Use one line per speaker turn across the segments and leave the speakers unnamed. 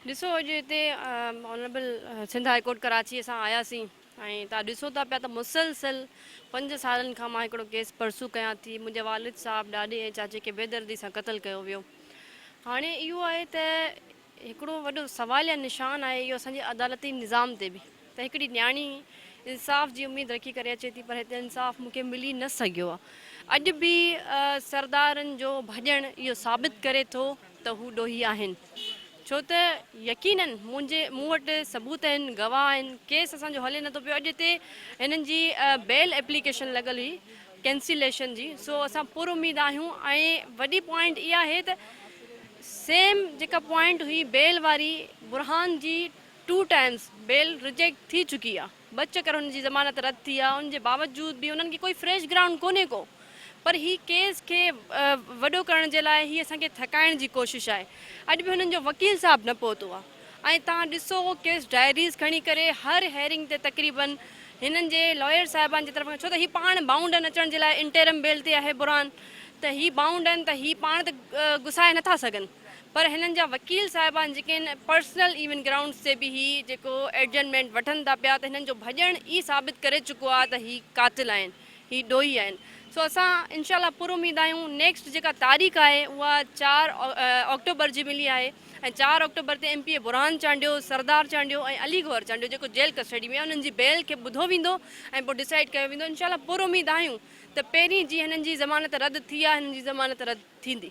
ڏسو اڄ هتي honourable Sindh high court Karachi اسان آياسين ۽ تان ڏسو ٿا پيا ته مسلسل پنج سالن کان مان هڪڙو ڪيس پرسو ڪيان ٿي منهنجي والد صاحب ڏاڏي ۽ چاچي کي بيدردي سان قتل ڪيو ويو هاڻي اهو آهي ته هڪڙو وڏو سوال يا نشان آهي اهو اسان جي عدالتي نظام تي به ته هڪڙي نياڻي انصاف جي اميد رکي ڪري اچي ٿي پر هتي انصاف مون کي ملي نه سگهيو آ اڄ به سردارن جو ڀڄڻ اهو ثابت ڪري ٿو ته هو ڏوهي آهن ڇو ته يقينن منهنجي مون وٽ ثبوت آهن گواهه آهن ڪيس اسان جو هلي نٿو پيو اڄ هتي هنن جي بيل ايپليڪيشن لڳل هئي ڪينسيليشن جي سو اسان پر اميد آهيون ۽ وڏي پوائنٽ اها آهي ته سيم جيڪا پوائنٽ هئي بيل واري برهان جي ٽو ٽائمز بيل رجيڪٽ ٿي چڪي آ ٻه چڪر هن جي ضمانت رد ٿي آ ان جي باوجود به انهن کي ڪوئي فريش گرائونڊ ڪونهي ڪو پر هي ڪيس کي وڏو ڪرڻ جي لاء هي اسان کي ٿڪائڻ جي ڪوشش آهي اڄ به هنن جو وڪيل صاحب نه پهتو آ ۽ توهان ڏسو ڪيس ڊائريز کڻي ڪري هر هيئرنگ تي تقريبا هنن جي لائر صاحبان جي طرفان ڇو ته هي پاڻ بائونڊ آهن اچڻ جي لاء انٽيرم بيل تي آهي برهان ته هي بائونڊ آهن ته هي پاڻ ته گسائي نٿا سگهن پر هنن جا وڪيل صاحبان جيڪي آهن پرسنل ايون گرائونڊس تي به هي جيڪو ايڊجرمينٽ وٺن ٿا پيا ته هنن جو ڀڄڻ ئي ثابت ڪري چڪو آهي ته هي قاتل آهن هي ڏوهي آهن سو اسان انشاء الله پر اميد آهيون نيڪسٽ جيڪا تاريخ آهي اها چار آڪٽوبر جي ملي آهي ۽ چار آڪٽوبر تي M P A Burhan Chandio Sardar Chandio ۽ Ali Gohar Chandio جيڪو جيل ڪسٽڊي ۾ انهن جي بيل کي ٻڌو ويندو ۽ پوء ڊسائيڊ ڪيو ويندو انشاء الله پر اميد آهيون ته پهرين جي هنن جي ضمانت رد ٿي آهي هنن جي ضمانت رد ٿيندي.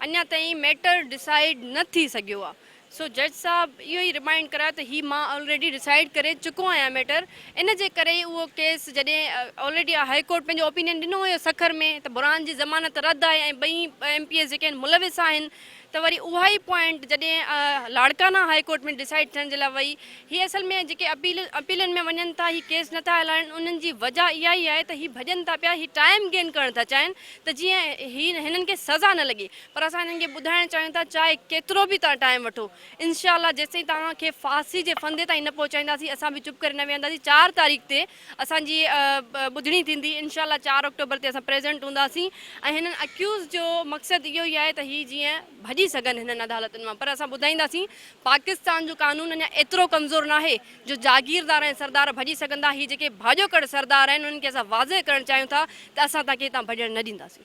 اڃا تائين ميٽر ڊسائيڊ نه ٿي سگهيو آ سو جج صاحب اهو ئي رمائينڊ ڪرايو ته هي مان آلريڊي ڊسائيڊ ڪري چڪو آهيان ميٽر ان جي ڪري ئي اهو ڪيس جڏهن آلريڊي آ هائي ڪورٽ پنهنجو اوپينين ڏنو هيو سکر ۾ ته برهان جي ضمانت رد آهي ۽ ٻئي ايم پي ايس جيڪي آهن ملوث آهن ته وري اها ئي پوائنٽ جڏهن لاڙڪانا هائي ڪورٽ ۾ ڊسائيڊ ٿيڻ جي لاء وئي هي اصل ۾ جيڪي اپيل اپيلن ۾ وڃن ٿا هي ڪيس نه ٿا هلائن انهن جي وجه اها ئي آهي ته هي ڀڄن ٿا پيا هي ٽائيم گين ڪرڻ ٿا چاهين ته جيئن هي هنن کي سزا نه لڳي پر اسان هنن کي ٻڌائڻ چاهيون ٿا چاهي ڪيترو به توهان ٽائيم وٺو انشاء الله جيستائين توهان کي ڦاسي جي ڦندي تائين نه پهچائينداسين اسان به چپ ڪري نه ويهنداسين چار تاريخ تي اسان جي ٻڌڻي ٿيندي انشاء الله چار آڪٽوبر تي اسان پريزنٽ هونداسين ۽ هنن اڪيوز جو مقصد اهو ئي آهي ته هي جيئن ڀڄي سگهن هنن عدالتن مان پر اسان ٻڌائينداسين پاڪستان جو قانون اڃا ايترو ڪمزور ناهي جو جاگيردار ۽ سردار ڀڄي سگهندا هي جيڪي ڀاڄو ڪڙ سردار آهن انهن کي اسان واضح ڪرڻ چاهيون ٿا ته اسان تان کي هتان ڀڄڻ نه ڏينداسين.